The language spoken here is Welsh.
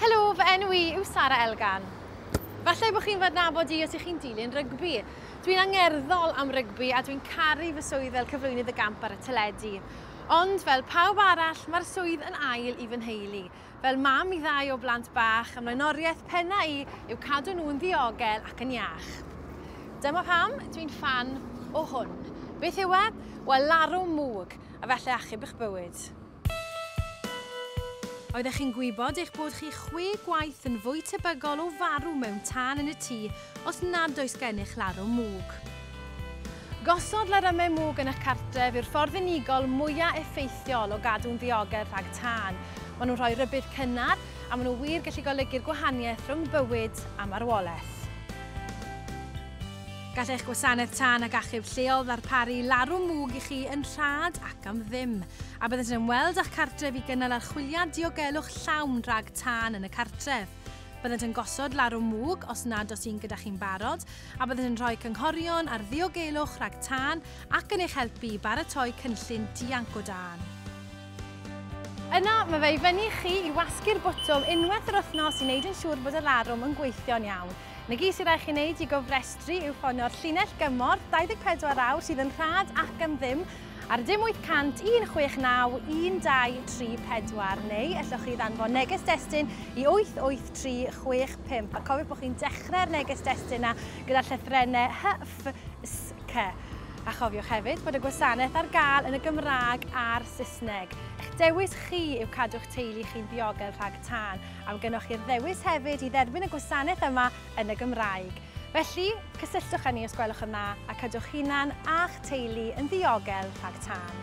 Helo, fy enw i yw Sara Elgan. Falle bod chi'n fod nabod i os ych chi'n dilyn rygbi. Dwi'n angerddol am rygbi a dwi'n caru fy swydd fel cyflwynydd y gamp ar y teledu. Ond fel pawb arall, mae'r swydd yn ail i fy nheulu. Fel mam i ddau o blant bach, ym mlaenoriaeth pennau i yw cadw nhw'n ddiogel ac yn iach. Dyma pam dwi'n ffan o hwn. Beth yw e? Wel, larwm mwg, a falle achub eich bywyd. Oeddech chi'n gwybod eich bod chi chwe gwaith yn fwy tebygol o farw mewn tân yn y tŷ os nad oes gennych larwm mwg. Gosod larymau mwg yn eich cartref yw'r ffordd unigol mwyaf effeithiol o gadw'n ddiogel rhag tân. Maen nhw'n rhoi rhybudd cynnar, a maen nhw wir gallu golygu'r gwahaniaeth rhwng bywyd a marwolaeth. Gall eich gwasanaeth tân ac achub lleol ddarparu larwm mwg i chi yn rhad ac am ddim, a byddant yn ymweld â'ch cartref i gynnal archwiliad diogelwch llawn rhag tân yn y cartref. Byddant yn gosod larwm mwg os nad oes un gyda chi'n barod, a byddant yn rhoi cynghorion ar ddiogelwch rhag tân ac yn eich helpu i baratoi cynllun dianc o dân. Yna, mae fe i fyny i chi i wasgu'r botwm unwaith yr wythnos i wneud yn siŵr bod y larwm yn gweithio'n iawn. Yn y gig sydd â chi wneud i gofrestru yw ffonio'r llinell gymorth 24 awr sydd yn rhad ac am ddim ar dim 800 169 1234 neu ellwch chi ddanfon neges destun i 88365 a cofiwch bod chi'n dechrau'r neges destun yna gyda llythrennau HFSC. A chofiwch hefyd bod y gwasanaeth ar gael yn y Gymraeg a'r Saesneg. Eich dewis chi yw cadw'ch teulu chi'n ddiogel rhag tân, am gynoch chi'r ddewis hefyd i dderbyn y gwasanaeth yma yn y Gymraeg. Felly, cysylltwch â ni os gwelwch yn dda a cadw'ch hunan a'ch teulu yn ddiogel rhag tân.